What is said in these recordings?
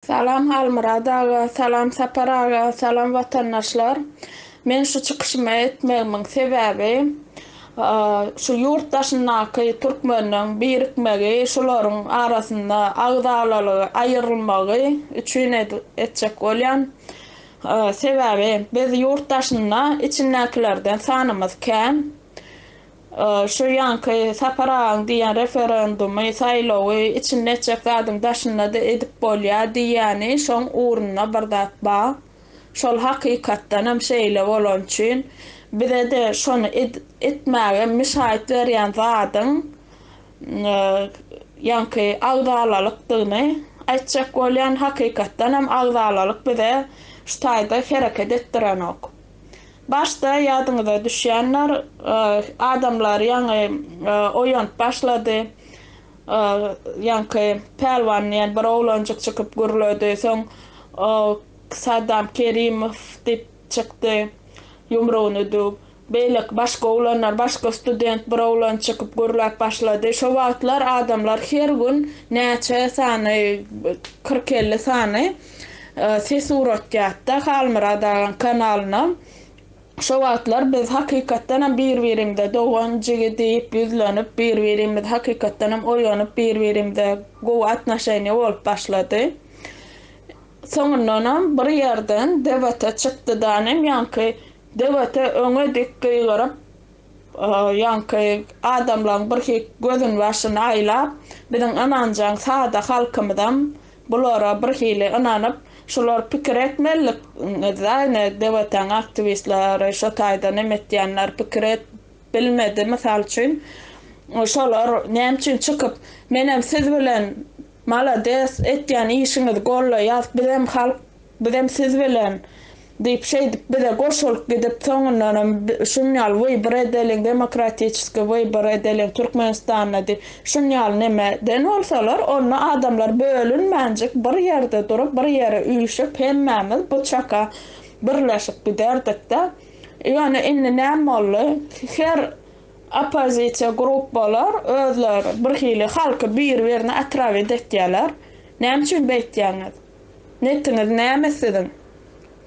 Salam Halmyrat aga salam Sapar aga salam watandaşlar men şu çykyşymy etmegimiň sebäbi şu ýurt daşyndaky türkmeniň birikmegi şularyň arasynda agzalalygy aýyrylmagy üçin etjek bolýan sebäbi biz ýurt daşynda içindäkilerden sanymyz kän Şu ýaňky Sapar agaň diýen referendumy, saýlawy içinde etjek zadyň daşynda-da edip bolýa diýýäni şoň ugruna bir zat ba. Şol hakykatdanam şeýle bolany üçin bize-de şony etmäge mşaýt berýän zadyň ýaňky agzalalykdygyny aýtjak bolýan, hakykatdanam agzalalyk bize şu taýda hereket etdirenok. Başda ýadyňyza düşýänler adamlar ýaňy oýanyp başlady. Ýaňky Pälwan diýen bir oglanjyk çykyp gürledi. Soň Sadam Kerimow diýip çykdy ýumrugyny düwüp. Beýleki başga oglanlar başga student bir oglan çykyp gürläp başlady. Şo wagtlar adamlar her gün näçe sany kyrk-elli sany ses uratýatda Halmyrat agaň kanalyna şo wagtlar biz hakykatdanam bir birimize dogan jigi diýip ýüzlenip bir birimiz hakykatdanam oýanyp bir birimize gowy atnoşeniýa bolup başlady soňundanam bir ýerden debata çykdydanem ýaňky debata öňe dik gygyryp ýaňky adamlaň birhik gözün başyn aýlap biziň ynanjaň sada halkymyzam Bulara birhili ynanyp, şular pikir etmelilik zaýny dewataň aktiwistlary şo taýda nem etýänler pikir et bilmedi mysal üçin şolar näme üçin çykyp menem siz bilen malades etýän işiňizi gollaýas bizem halk Bizem siz bilen! diýip, şeýdip bize goşulyp gidip, soňundanam şun ýaly wybor edeliň, demokratiçeskiý wybor edeliň Türkmenistanda diýip, şun ýaly neme den bolsalar, onda adamlar bölünmänjik bir ýerde durup, bir ýere üýşüp, hemmämiz bu çaka birleşip giderdik-de. Ýöne indi näme boldy? Her oppozisiýa grupbalar özleri birhili halky bir-birine otrawit etýärler. Näme üçin beýtýäňiz? Netiňiz näme siziň?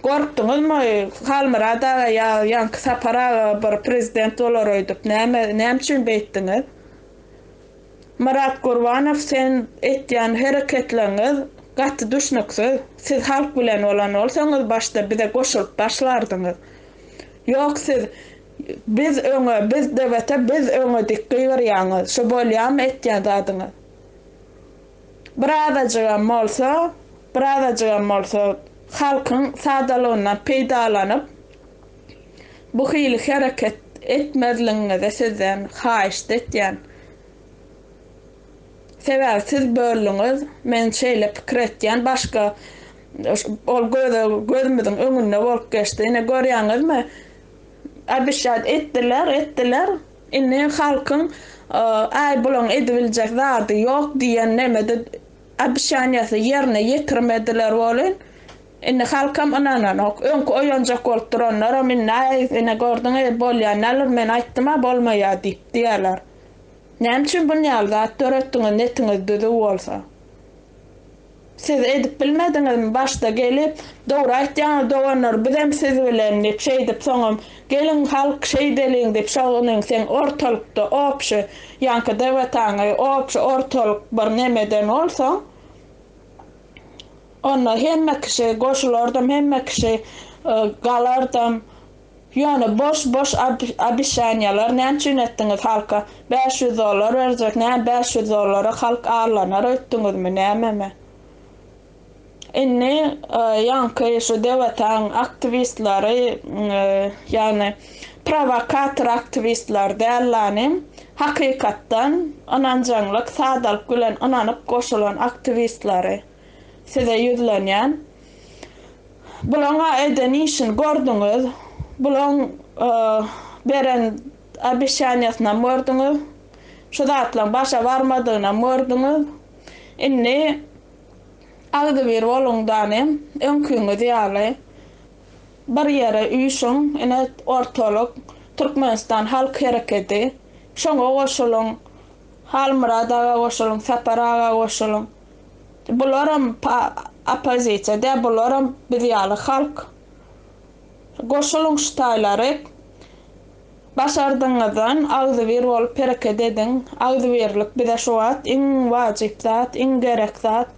Gorkduňyzmy Halmyrat aga ýa ýaňky Sapar aga bir prezident bolar öýdüp? Näme, näme üçin beýtdiňiz? Myrat Gurbanow sen etýän hereketleriňiz gaty düşnüksiz. Siz halk bilen bolan bolsaňyz başda bize goşulyp başlardyňyz. Ýok siz biz öňe, biz DBT, biz öňe diýip gygyrýaňyz. Şu bolýamy etýän zadyňyz? Birazajygam bolsa, birazajygam bolsa halkyň sadalygyndan peýdalanyp, bu hili hereket etmezligiňizi sizden haýyşt etýän. Sebäbi siz böldüňiz, men şeýle pikir etýän, başga ol göze gözümiziň öňünde bolup geçdi. Ine görýäňizmi? Obişýat etdiler, etdiler. Indi halkyň Aý bulaň edibiljek zady ýok diýen nemede obişanýasy ýerine ýetirmediler welin, indi halkam ynananok. Öňki oýanjak bolup duranlaram indi Aý ine gördüň ey bolýa nalir men aýtdym-a bolmaýa diýip diýerler. Näme üçin bunýaly zat döretdiňiz netiňiz düzüw bolsa. Siz edip bilmediňizmi başda gelip dogry aýtýaňyz doganlar bizem siz bilen dip şeýdip soňam geliň halk şeýdeliň dip şoguniň seň ortalykda obşi ýaňky debataňy obşi ortalyk bir nemeden bolsaň onda hemme kişi goşulardam hemme kişi galardam Ýöne boş boş obişaniýalar näme üçin etdiňiz halka bäş ýüz dollar berjek näme bäş ýüz dollara halk arlanar öýtdüňizmi nämemi indi ýaňky şu dewataň aktiwistleri ýagny prowokator aktiwistler däl lanym hakykatdan ynanjaňlyk sadalyk bilen ynanyp goşulan aktiwistleri size ýüzlenýän Bulaňa eden işini gördüňiz, bulaň beren obesýaniýasynam gördüňiz, şu zatlaň başa barmadygynam gördüňiz, indi agzybir boluň dane, öňkiňiz ýaly bir ýere üýşüň, ine ortalyk, Türkmenistan halk herekedi, şoňa goşulyň, Halmyrat aga goşulyň, Sapar aga goşulyň. Bularam oppozisiýa däl bularam biz ýaly halk. Goşulyň şu taýlary. Başardygyňyzdan agzybir bolup hereket ediň. Agzybirlik bize şu wagt iň wajyp zat, iň gerek zat.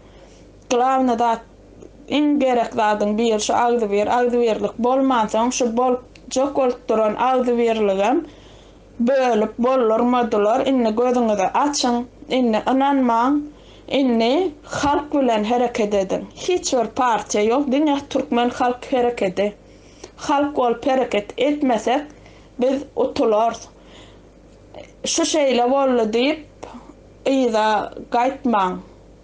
Glawny zat iň gerek zadyň biri şu agzybir. Agzybirlik bolmansoň şu bolupjak bolup duran agzybirligem Bölüp boldurmadylar indi gözüňizi açyň indi ynanmaň indi halk bilen hereket ediň hiç bir partiýa ýok diňe türkmen halk herekedi halk bolup hereket etmesek biz utularys şu şeýle boldy diýip yza gaýtmaň.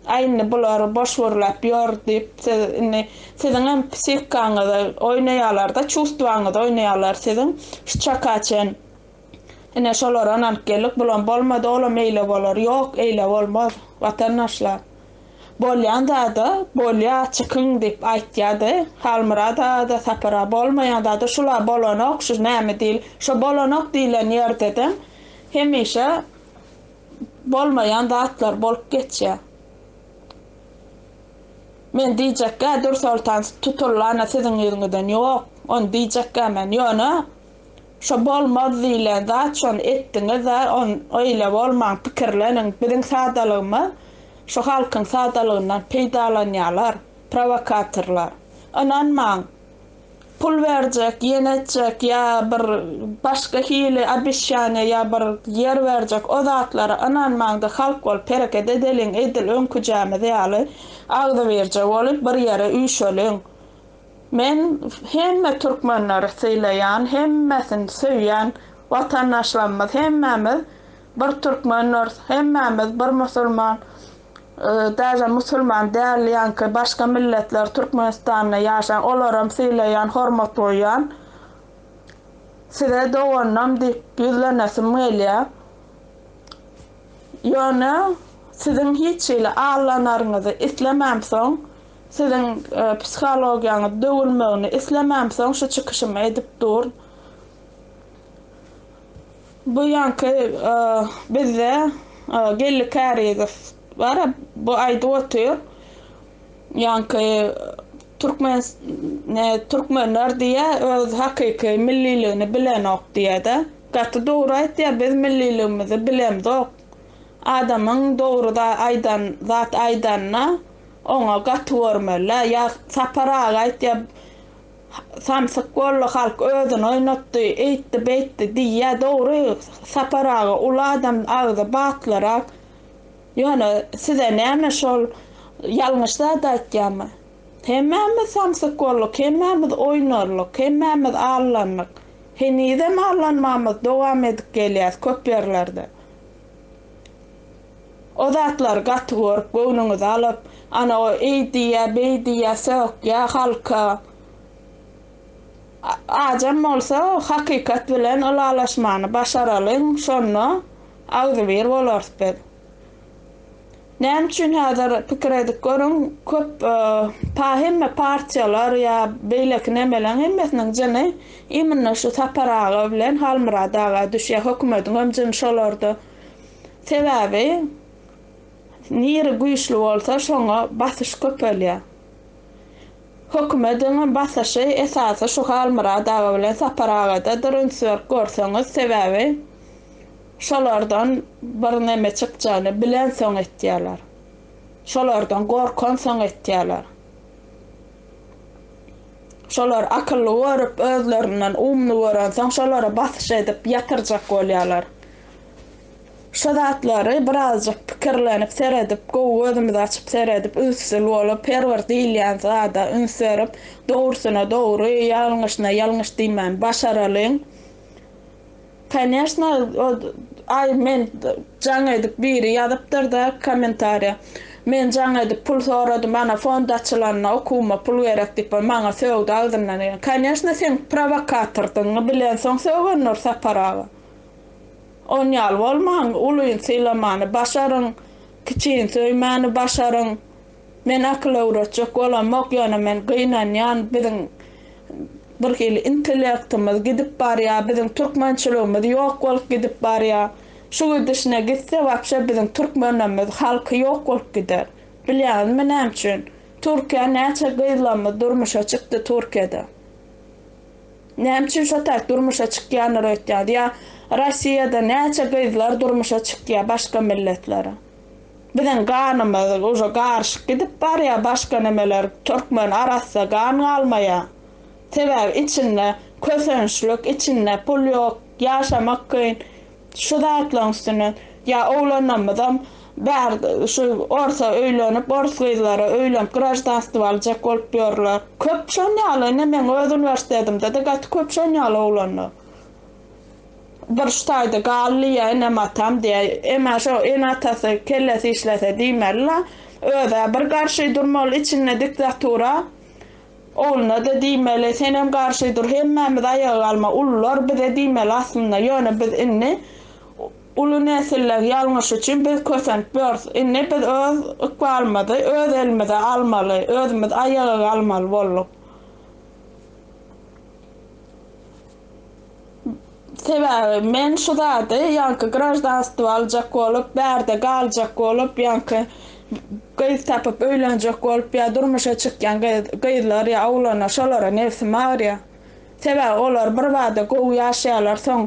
Aý indi bulary boş gürläp ýör diýip siz indi siziňem psihikaňyzy oýnaýalarda çustwaňyzy oýnaýalar siziň şu çaka çen ine şolara ynanyp geldik bulam bolmady olam eýle bolar ýok eýle bolmaz watandaşlar bolýan zada bolýa çykyň diýip aýtýady Halmyrat aga-da Sapar aga bolmaýan zada şula bolanok şu näme diýil şo bolanok diýilen ýerdedem hemişe bolmaýan zatlar bolup geçýär. Men diýjekgä Dürsoltan tutulana siziň ýüzüňizden ýok, ony diýjekgä men, ýöne şo bolmaz diýlen zat şony etdiňiz-ä, on öýle bolmaň, pikirleniň, biziň sadalygymyz şu halkyň sadalygyndan peýdalanýarlar, prowokatorlar. Ynanmaň, Pul berjek, ýen etjek ýa bir başga hili obesçaniýe ýa bir ýer berjek o zatlara ynanmaňda halk bolup hereket edeliň edil öňküjämiz ýaly agzybirje bolup bir ýere üýşeliň men hemme türkmenleri sylaýan hemmesini söýýän watandaşlarymyz hemmämiz bir türkmenders hemmämiz bir musulman Täze musulman däl ýaňky başga milletler türkmenistanda ýaşaň olaram sylaýan hormat goýýan size doganam diýip ýüzlenesim gelýä ýöne siziň hiç hili allanaryňyzy islemämsoň siziň psihologiýaňyz döwülmegini islemämsoň şu çykyşymy edip dur. Bu ýanky bizde Geldi Kärizow bar, bu aýdyp otyr. Ýanky türkmen ne türkmenler diýýä öz hakyky milliligini bilenok diýýä-de. Gaty dogry aýtýa biz milliligimizi bilemzok. Adamyň dogry za aýdan zat aýdanda oňa gaty görmeli-ä. Ýa Sapar aga aýtýa Samsyk bolly halk özüni oýnatdy eýtdi beýtdi diýýä dogry Sapar aga uly adam agzy batlyrak ýöne size näme şol ýalňyş zat aýtýamy hemmämiz samsyk bolluk hemmämiz oýnarlyk hemmämiz allandyk henizem allanmamyzy dowam edip gelýäs köp ýerlerde O zatlary gaty görüp, göwnüňizi alyp, ana o eý diýýär, beý diýýär, sökýär halka. Ajam bolsa hakykat bilen ylalaşmany başaralyň, şonda agzybir bolarys biz. Näme üçin häzir pikir edip görüň, köp pa hemme partiýalar ýa beýleki nemeleň hemmesiniň jyny imnno şu Sapar aga bilen Halmyrat aga düşýär, hökümediňem jyny şolarda. Sebäbi niri güýçli bolsa şoňa basyş köpelýär. Hökümediň basyşy esasy şu Halmyrat aga bilen Sapar agada dyrynçberk görseňiz sebäbi şolardan bir neme çykjagyny bilensoň etýärler. Şolardan gorkansoň etýärler. Şolar akylly görüp özlerinden umly görensoň şolara basyş edip ýatyrjak bolýarlar. Şu zatlary birazjyk pikirlenip seredip, gowy gözümizi açyp seredip, ünsli bolup, her bir diýilýän zada üns berip, dogrusyna dogry, ýalňyşyna ýalňyş diýmän başaralyň. Koneşna, aý men jaň edip biri ýazypdyr-da kommentariýa, Men jaň edip pul soradym, ana fond açylanda okuwyma pul gerek diýip bir maňa sögdi agzyndan geleni. Koneşna sen prowokatordygyňy bilensoň sögen Nur Sapar aga. Oň ýaly bolmaň, ulyny sylamany başaryň, kiçini söýmäni başaryň. Men akyl öwretjek bolamok, ýöne men gynanýan, biziň bir hili intellektimiz gidip barýa, biziň türkmençiligimiz ýok bolup gidip barýa. Şu gidişine gitse wapşe biziň türkmenimiz halky ýok bolup gider. Bilýäňizmi näme üçin? Türkiýä näçe gyzlamyz durmuşa çykdy Türkiýede. Näme üçin şo tak durmuşa çykýanlar öýtýär ýa Rossiýada näçe gyzlar durmuşa çykýar başga milletlere. Biziň ganymyz uje garyşyk gidip barýar başga nemeler türkmen arassa gan galmaýar. Sebäbi içinde kösençlik içinde pul ýok ýaşamak kyn. Şu zatlaryň üstüne ýa oglanlarymyzam bär şu orsa öýlenip ors gyzlara öýlenip graždanstwo aljak bolup ýörler. Köp şon ýaly ine meň öz uniwersitetimde-de gaty köp şon ýaly oglanlar. Bir şu taýda galdy ýa enem atam diýä emma şo ene atasy kellesi işlese diýmeli la özä bir garşy durmaly içinde diktatura Ogluna-da diýmeli, senem garşy dur, hemmämiz aýaga galmaly, ulular bize diýmeli aslynda, ýöne biz indi uly nesilleň ýalňyşy üçin biz kösenip ýörüs. Indi biz öz ykbalymyzy öz elimize almaly, özümiz aýaga galmaly bolduk. Sebäbi men şu zady ýaňky graždanstwo aljak bolup, bärde galjak bolup, ýaňky gyz tapyp öýlenjek bolup ýa durmuşa çykýan gyz, gyzlar ýa oglanlar şolara nebsim agyrýar. Sebäbi olar birbada gowy ýaşaýarlar, soň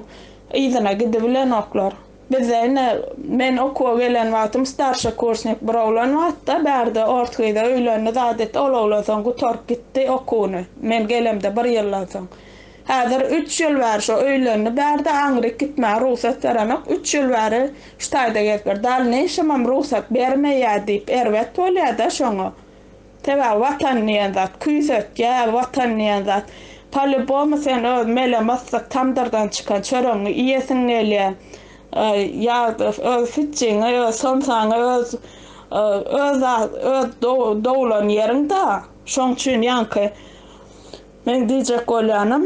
yzyna gidibilenoklar. Bizde ine men okuwa gelen wagtym starşa kursnik bir oglan bardy-da, bärde ors gyza öýlendi zat etdi, ol oglan soň gutaryp gitdi okuwyny, men gelemde bir ýyldan soň. Häzir üç ýyl bäri şo öýlendi bärde aňryk gitmäge rugsat berenok üç ýyl bäri şu taýda gezip ýör dal neşemem rugsat bermeýä diýip erbet bolýada şoňa sebäbi watan diýen zat küýsetýä watan diýen zat palibomy sen öz mele myssyk tamdyrdan çykan çöregiňi iýesiň gelýä ýa öz pitjigiňi öz somsaňy öz öz doglan ýeriň da şoň üçin ýaňky Meň diýjek bolýanym,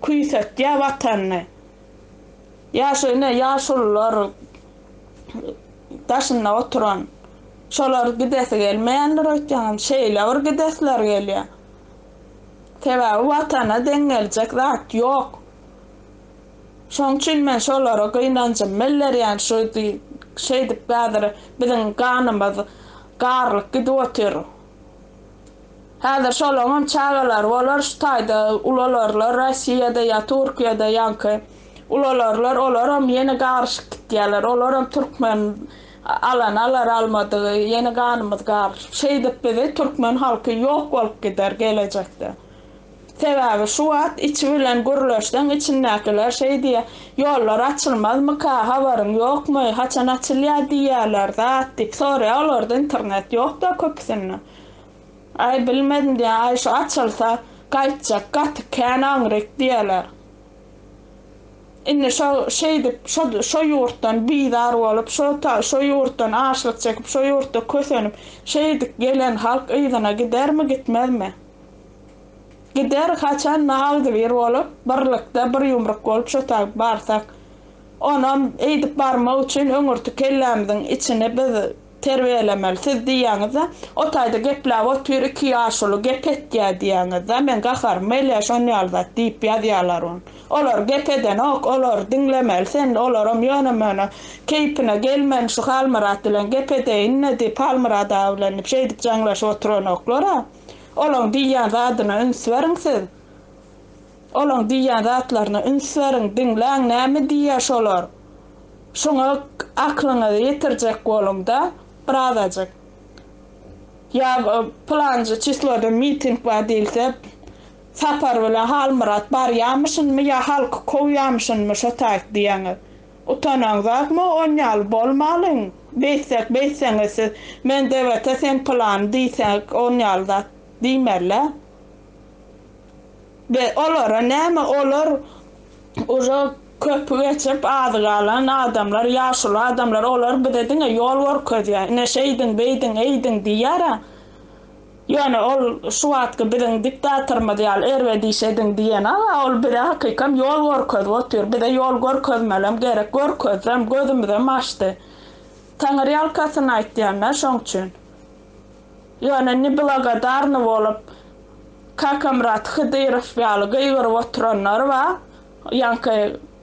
küýsetýä Watanyny. Ýaşy ine ýaşulular daşynda oturan. Şolar gidesi gelmeýändir öýtýäňem, şeýle bir gidesleri gelýä. Sebäbi Watana deň geljek zat ýok. Şoň üçin men şolara gynanjymy bildirýän şu şeýdip häzir biziň ganymyz garlyp gidip otyr. Häzir şolaňam çagalary bolar şu taýda ulalarlar Rossiýada ýa Türkiýede ýaňky ulalarlar olaram ýene garyşyp gitýäler olaram türkmen alan alar almadygy ýene ganymyz garyşyp şeýdip bizi türkmen halky ýok bolup gider gelejekde sebäbi şu wagt içi bilen gürleşseň içindäkiler şeý diýýä ýollar açylmazmyka habaryň ýokmy haçan açylýa diýýäler zat diýip sorýa olarda internet ýokda köpüsinde. Aý bilmedim diýýän aý şu açylsa gaýtjak gaty kän aňryk diýýäler. Indi şo şeýdip şo şo ýurtdan bizar bolup şo ta şo ýurtdan açlyk çekip şo ýurtda kösenip şeýdik gelen halk yzyna gidermi gitmezmi. Gider haçanda agzybir bolup birlikde bir ýumruk bolup şo taýyp barsak. Onam eýdip barmak üçin öňürti kellämiziň içini biz Terbiýelemeli siz diýýäňiz-de, o taýda gepläp otyr, iki ýaşuly gep etýär diýýäňiz-de, men gaharym gelýär şon ýaly zat diýip ýazýarlar ony. Olar gep edenok, olary diňlemeli sen, olaram ýöne-möne keýpine gelmän şu Halmyrat bilen gep edeýin-le diýip, Halmyrat aga bilen diýip şeýdip jaňlaşyp oturanoklar-a. Olaň diýýän zadyna üns beriň siz. Olaň diýýän zatlaryna üns beriň, diňläň näme diýýär şolar. Şuňa aklyňyzy ýetirjek boluň-da birazajyk. Ýa pylanjy çisloda miting bar diýilse, Sapar bilen Halmyrat barýamyşynmy ýa halky kowýamyşynmy şo taýt diýýäňiz. Utanaňzakmy on ýaly bolmalyň. Beýtsek beýtseňiz siz men DWT sen pylany diýsek on ýaly zat diýmerler. Be olara näme olar uje köpi geçip azy galan adamlar ýaşuly adamlar olar bize diňe ýol gorkezýär ine şeýdiň beýdiň eýdiň diýýärä ýöne ol şu wagtky biziň diktatorymyz ýaly erbet iş ediň diýenaga ol bize hakykam ýol gorkezip otyr bize ýol görkezmelem gerek görkezrem gözümizem açdy taňyrýalkasyn aýtýan men şoň üçin. Ýöne neblagodarny bolup Kakamyrat Hydyrow ýaly gygyryp oturanlar bar, ýaňky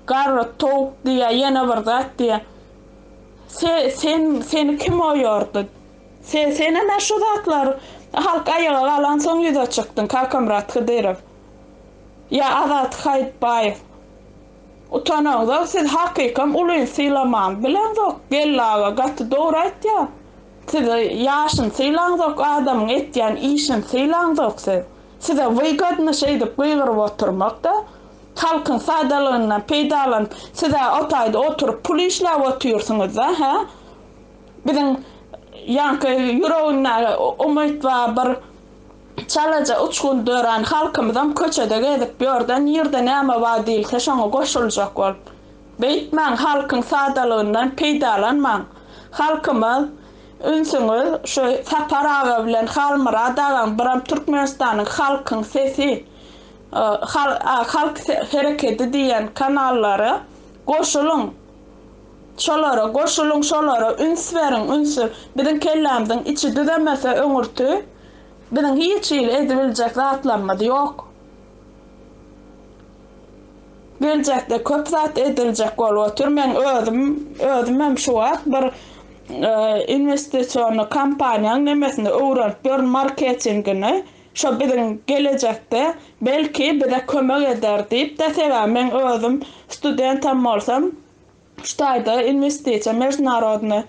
garry towuk diýýä, ýene bir zat diýýä. Se, sen, seni kim oýardy? Se, senem-ä şu zatlar halk aýaga galansoň ýüze çykdyň, Kakamyrat Hydyrow. Ýa Azat Haýytbaýew. Utanaňzok siz hakykam ulyny sylamaň bileňzok Geldi aga gaty dogry aýtýa siz ýaşyny sylaňzok adamyň etýän işini sylaňzok siz size wygodny şeýdip gygyryp oturmakda halkyň sadalygyndan peýdalanyp sizä otaýda oturyp pul işläp otyrsyňyzda hä biziň ýaňky ýüregindäki umyt ba bir Çalaja uçgun dörän halkymyzam köçede gezip ýörde nirde näme bar diýilse şoňa goşuljak bolup. Beýtmäň halkyň sadalygyndan peýdalanmaň. Halkymyz ünsüňiz şu Sapar aga bilen Halmyrat agaň biram Türkmenistanyň halkyň sesi halk herekedi diýen kanallara goşulyň. Şolara goşulyň şolara üns beriň ünsü biziň kellämiziň içi düzemese öňürti biziň hiç hili edibiljek zatlarymyz ýok geljekde köp zat ediljek bolup otyr meň özüm özümem şu wagt bir inwestisiony kampaniýaň nemesini öwrenip ýörün marketingini Şo biziň gelejekde, belki, bize kömek eder diýip-de sebäbi meň özüm studentam bolsam, şu taýda inwestisiýa, mežnarodnyý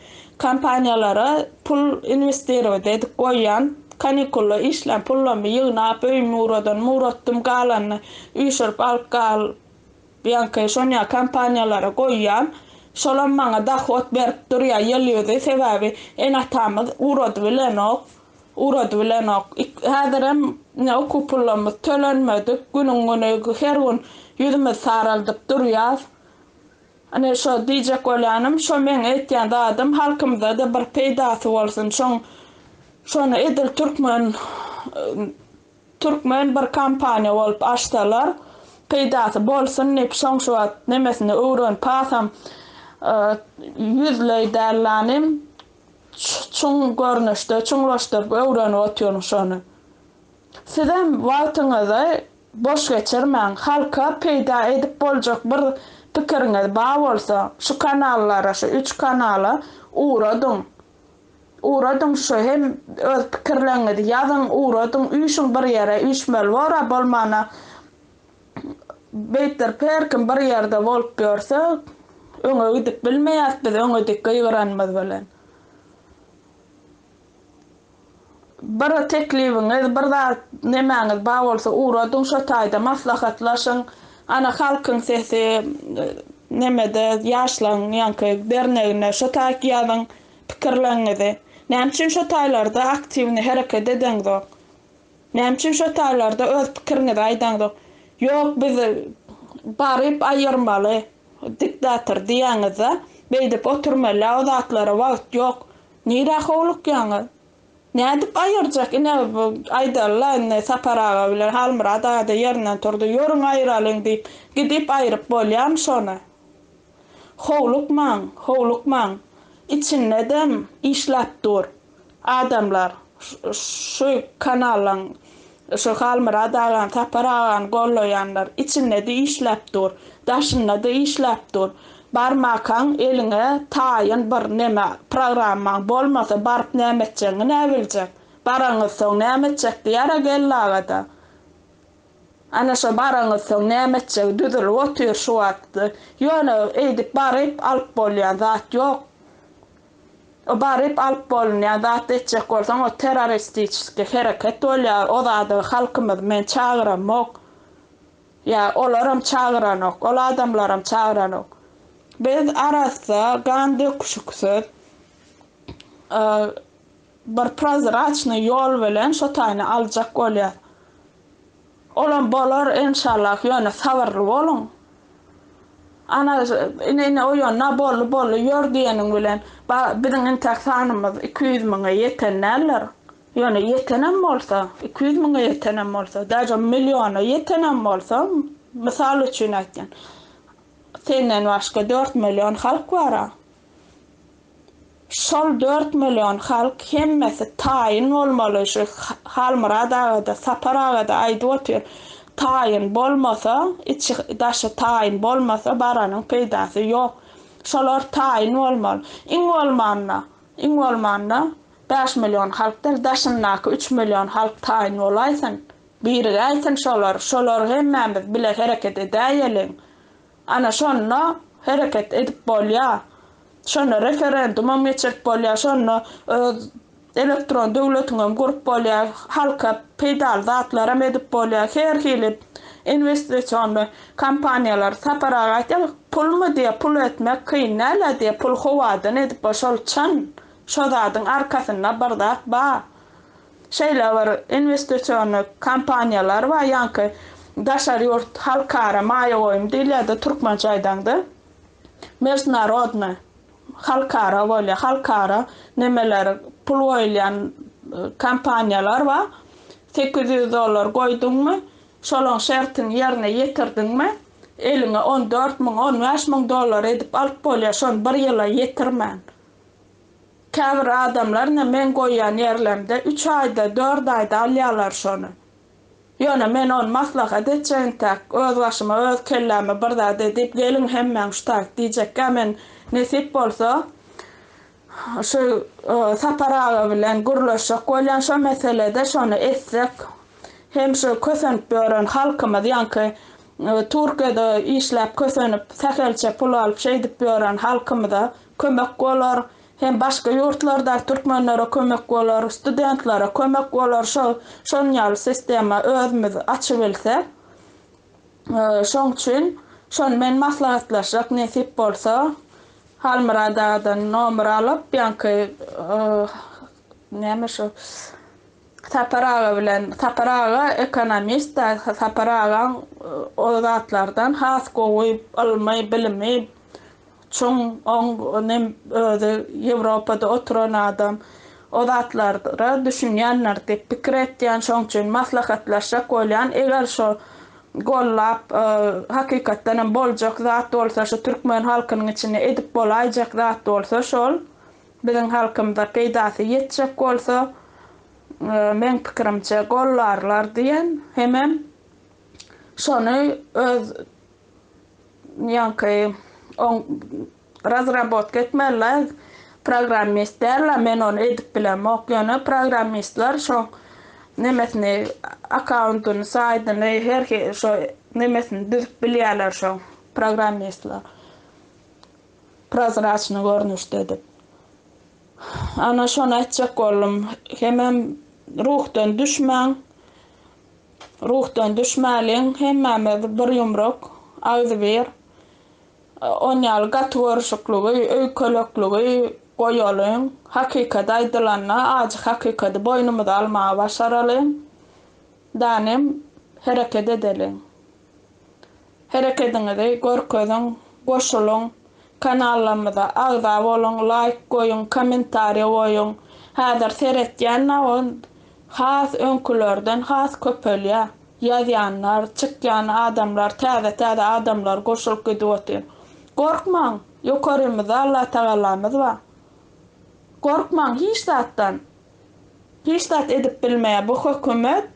kompaniýalara pul inwestirowat edip goýýan, kanikulda işlän pullarymy ýygnap, öýümi uradan, muratdym galanyny üýşürip alyp galýanky şonýa kompaniýalara goýýan. Şolam maňa dohod berip durýar ýyl ýüzi, sebäbi ene-atamyz uradybilenok. Urady bilenok. Häzirem ine okuw pullarymyz tölenmedik. Günüň-güni her gün ýüzümizi saraldyp durýas. Ine şo diýjek bolýanym, şo meň aýtýan zadym halkymyza-da bir peýdasy bolsun. Şoň şony edil türkmen türkmen bir kompaniýa bolup açsalar, peýdasy bolsun diýip, şoň şu wagt nemesini öwrenip alsam, ýüzleý däl-lanym, çuň görnüşde çuňlaşdyryp öwrenip otyryň şony. Sizem wagtyňyzy boş geçirmäň, halka peýda edip boljak bir pikiriňiz bar bolsa şu kanallara şu üç kanala ugradyň, ugradyň şu hem öz pikirleňizi ýazyň ugradyň üýşüň bir ýere üýşmeli bor-a bolmana Beýtdir per kim bir ýerde bolup ýörse, öňe gidip bilmeýäs biz öňe dik gygyranymyz bilen. Bir teklibiňiz, bir zat nemäňiz bar bolsa ugradyň şo taýda maslahatlaşyň. Ana halkyň sesi nemede ýaşlaň ýaňky dernegine şo taýk ýazyň pikirleňňizi. Näme üçin şo taýlarda aktiwni hereket edeňzok. Näme üçin şo taýlarda öz pikiriňizi aýdaňzok? Ýok biz baryp aýyrmaly diktator diýýäňizde beýdip oturmala o zatlara wagt ýok. Nirä howlukýaňyz? Nädip aýyrjak ine aýdalyla indi Sapar aga bilen Halmyrat agada ýerinden turdy ýörüň aýyralyň diýip gidip aýryp bolýamy şony? Howlukmaň, howlukmaň, içindedem işläp dur adamlar, şu kanalyň, şu Halmyrat agany, Sapar agany gollaýanlar, içindede işläp dur, daşyndada işläp dur, barmakaň eliňe taýyn bir neme, programmaň bolmasa baryp näme etjegiňi näbiljek, baraňyzsoň näme etjek diýär-a geldi agada, Ana şo baranyssoň näme etjegi düzülip otyr şu wagt. Ýone eýdip baryp alyp bolýan zat ýok. O baryp alyp bolunýan zat etjek bolsaň o terroristiçeski hereket bolýar o zada halkymyzy men çagyramok. Ýa olaram çagyranok ol adamlaram çagyranok. Biz arassa gan döküşiksiz Bir prozraçnyý ýol bilen şo taýyny aljak bolýar. Olam bolar enşallah ýöne sabyrly boluň. Ana ine ine oýanna bolly bolly ýör diýeniň bilen ba biziň intäk sanymyz iki ýüz müňe ýeten däldir. Ýöne ýetenem bolsa iki ýüz müňe ýetenem bolsa daže milliona ýetenem bolsa mysal üçin aýtýan senden başga dört million halk bara. Şol dört million halk hemmesi taýyn bolmaly şu Halmyrat agada Sapar agada aýdyp otyr taýyn bolmasa içi daşy taýyn bolmasa baranyň peýdasy ýok şolar taýyn bolmaly iň bolmanda iň bolmanda bäş million halk däl daşyndaky üç million halk taýyn bolaýsyn birigäýsin şolar şolar hemmämiz bile hereket edäýeliň. Ana şonda hereket edip bolýa. Şonda referendumam geçirip bolýa, şonda öz elektron döwletiňem gurup bolýa, halka peýdaly zatlaram edip bolýa, her hili inwestisionly kompaniýalar. Sapar aga aýtýar, pulmy diýe pul etmek kyn däl-ä diýe, pul howadan edip bol, şol çyn, şo zadyň arkasynda bir zat bar. Şeýle bir inwestisiony kompaniýalar bar, ýaňky daşary ýurt halkara maýa goýum diýilýärdi, türkmençe aýdaňda mežnarodnoý, halkara bolýar, halkara nemeler pul goýulýan kompaniýalar bar, sekiz ýüz dollar goýduňmy, şolaň şertini ýerine ýetirdiňmi, eliňe on dört müň, on bäş müň dollar edip alyp bolýar, şony bir ýyla ýetirmän. Käbir adamlar ine men goýýan ýerlerimde üç aýda, dört aýda alýarlar şony. Ýöne men ony maslahat etjegimtäk, öz başyma, öz kelläme bir zat edip, geliň hemmäň şu taýt diýjekkä men nesip bolsa şu Sapar aga bilen gürleşjek bolýan şo meselede şony etsek hem şu kösenip ýören halkymyz ýaňky Türkiýede işläp kösenip sähelçe pul alyp şeýdip ýören halkymyza kömek bolar, hem başga ýurtlardaky türkmenlere kömek bolar, studentlere kömek bolar, şol şon ýaly sistema özümiz açybilse. Şoň üçin şony men maslahatlaşjak nesip bolsa, Halmyrat agadan nomer alyp, ýaňky näme şu Sapar aga bilen, Sapar aga ekonomist-da, Sapar agaň o zatlardan has gowy ylmy, bilimi Çuň oň nem özi ýewropada oturan adam o zatlara düşünýändir diýip pikir etýän şoň üçin maslahatlaşjak bolýan eger şo gollap hakykatdan hem boljak zat bolsa şu türkmen halkynyň içinde edip bolaýjak zat bolsa şol biziň halkymyza peýdasy ýetjek bolsa meň pikirimçe gollarlar diýen hemem şony öz Ýoňky on razrabotka etmeli programmist dällä men ony edip bilemok ýöne programmistler şo nemesini akkauntyny saýtyny her şo nemesini düzüp bilýärler şo programmistler prozraçnyý görnüşde edip ana şony aýtjak boldum hemem ruhdan düşmäň. Ruhdan düşmäliň hemmämiz bir ýumruk, agzybir. Onýaly gaty görüşikligi, öýkelekligi goýalyň. Hakykat aýdylanda ajy hakykady boýnumyza almagy başaralyň. Danem hereket edeliň. Herekediňizi görkeziň, goşulyň, kanallarymyza agza boluň, laýk goýuň, kommentariýa goýuň. Häzir seretýän nowod has öňkülerden has köpelýär. Ýazýanlar, çykýan adamlar, täze täze adamlar goşulyp gidip otyr. Gorkmaň, ýokarymyzda Allatagalamyz bar. Gorkmaň hiç zatdan. Hiç zat edip bilmeýär bu hökümet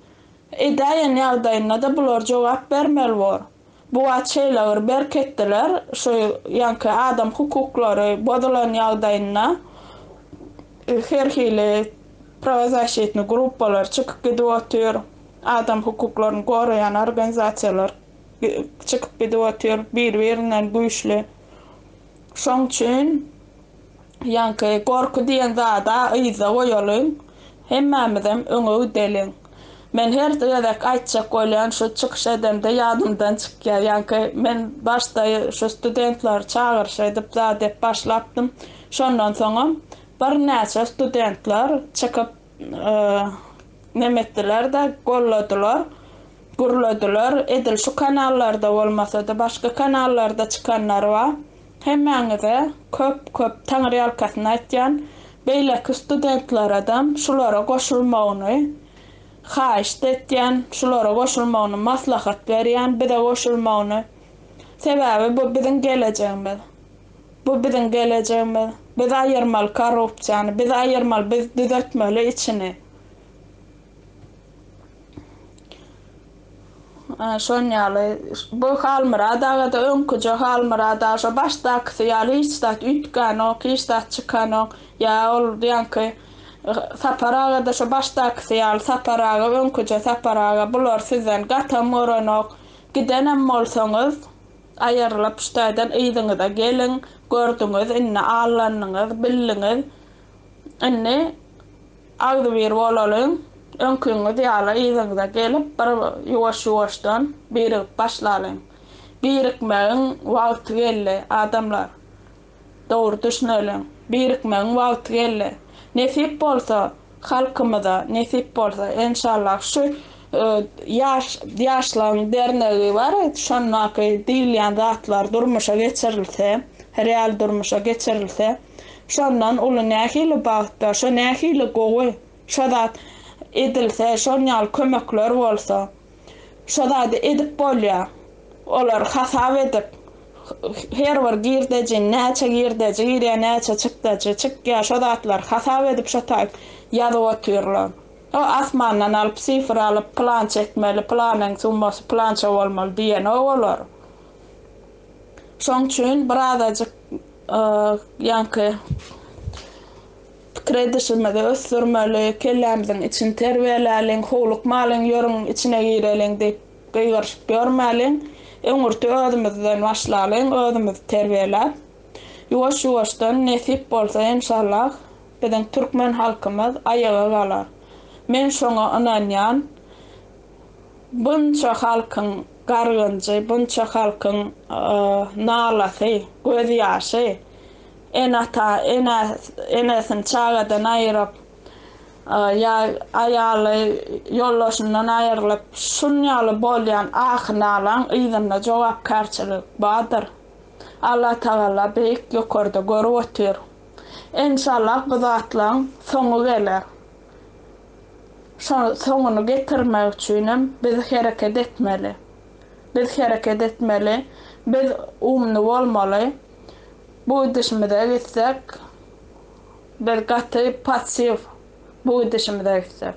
edäýen ýagdaýynda-da bular jogap bermeli bor. Bu wagt şeýleir berk etdiler şu ýaňky adam hukuklary bozulan ýagdaýynda her hili prawazaşitni gruppalar çykyp gidip otyr adam hukuklaryny goraýan organizasiýalar çykyp gidip otyr bir birinden güýçli. Şoň üçin ýaňky gorky diýen zada yzda goýalyň, hemmämizem öňe gideliň. Men her gezek aýtjak bolýan şu çykyş edemde ýadymdan çykýar. Ýaňky men başda şu studentleri çagyryş edip zat ep başlapdym. Şondan soňam birnäçe studentler çykyp. Neme etdiler-de, golladylar, gürlediler. Edil şu kanallarda bolmasa-da, başga kanallarda çykanlary bar. Hemmäňize köp-köp taňryýalkasyn aýtýan. Beýleki studentleredem şulara goşulmagyny haýyşt etýän, şulara goşulmagyny maslahat berýän, bize goşulmagyny. Sebäbi bu biziň gelejegimiz. Bu biziň gelejegimiz. Biz aýyrmaly korrupsiýany. Biz aýyrmaly, biz düzetmeli içini. Şon ýaly. Bu Halmyrat agada öňküje Halmyrat aga şo başdakysy ýaly hiç zat üýtgänok, hiç zat çykanok. Ýa ol diýenki Sapar agada şo başdakysy ýaly Sapar aga öňküje Sapar aga bular sizden gatam görenok. Gidenem bolsaňyz Aýrylyp şu taýdan yzyňyza geliň, gördüňiz, indi allandyňyz, bildiňiz, indi agzybir bolalyň, öňkiňiz ýaly yzyňyza gelip, bir ýuwaş-ýuwaşdan birigip başlalyň. Birikmegiň wagty geldi, adamlar! Dogry düşüneliň, birikmegiň wagty geldi. Nesip bolsa, halkymyza, nesip bolsa, enşallah, şu Ýaş, ýaşlaň dernegi bar, şondaky diýilýän zatlar durmuşa geçirilse, real durmuşa geçirilse, şondan uly nähili bagt bar, şo nähili gowy, şo zat edilse, şoň ýaly kömekler bolsa. Şo zady edip bolýar. Olary hasap edip, her bir girdejini, näçe girdeji girýär, näçe çykdajy çykýar, şo zatlary hasap edip şo taýt ýazyp otyrlar. O asmandan alyp, sifr alyp, pylança etmeli, pylanyň summasy pylança bolmaly diýenok olar. Şoň üçin birazajyk ýaňky Pikir edişimizi ösdürmeli, kellämiziň içini terbiýeläliň, howlukmalyň, ýörüň içine gireliň diýip gygyryşyp ýörmäliň. Öňürti özümizden başlalyň, özümizi terbiýeläp, ýuwaş-ýuwaşdan, nesip bolsa, enşallah, biziň türkmen halkymyz aýaga galar. Men şoňa ynanýan. Bunça halkyň gargynjy, bunça halkyň nalasy, gözýaşy Ene-ata, ene, enesini çagadan aýyryp, ýa aýaly ýoldaşyndan aýrylyp, şunýaly bolýan ahy-nalaň yzynda jogapkärçilik bardyr. Allatagala beýik ýokarda görüp otyr. Enşallah bu zatlaň soňy geler. Şo soňuny getirmek üçinem biz hereket etmeli. Biz hereket etmeli. Biz umny bolmaly. Bu gidişimize gitsek, biz gaty passiw bu gidişimize gitsek.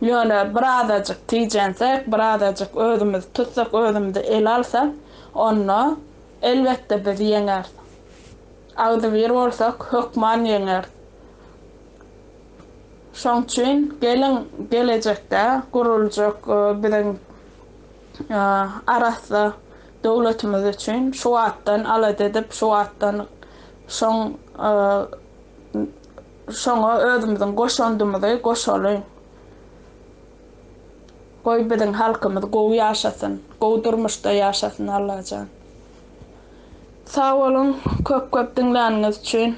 Ýöne birazajyk tijensek, birazajyk özümizi tutsak, özümizi ele alsak, onda, elbetde, biz ýeňeris. Agzybir bolsak, hökman ýeňeris. Şoň üçin geliň, gelejekde guruljak biziň arassa Döwletimiz üçin şu wagtdan alada edip, şu wagtdan şoň şoňa özümiziň goşandymyzy goşalyň. Goý biziň halkymyz gowy ýaşasyn, gowy durmuşda ýaşasyn Allajan. Sag boluň köp köp diňläniňiz üçin.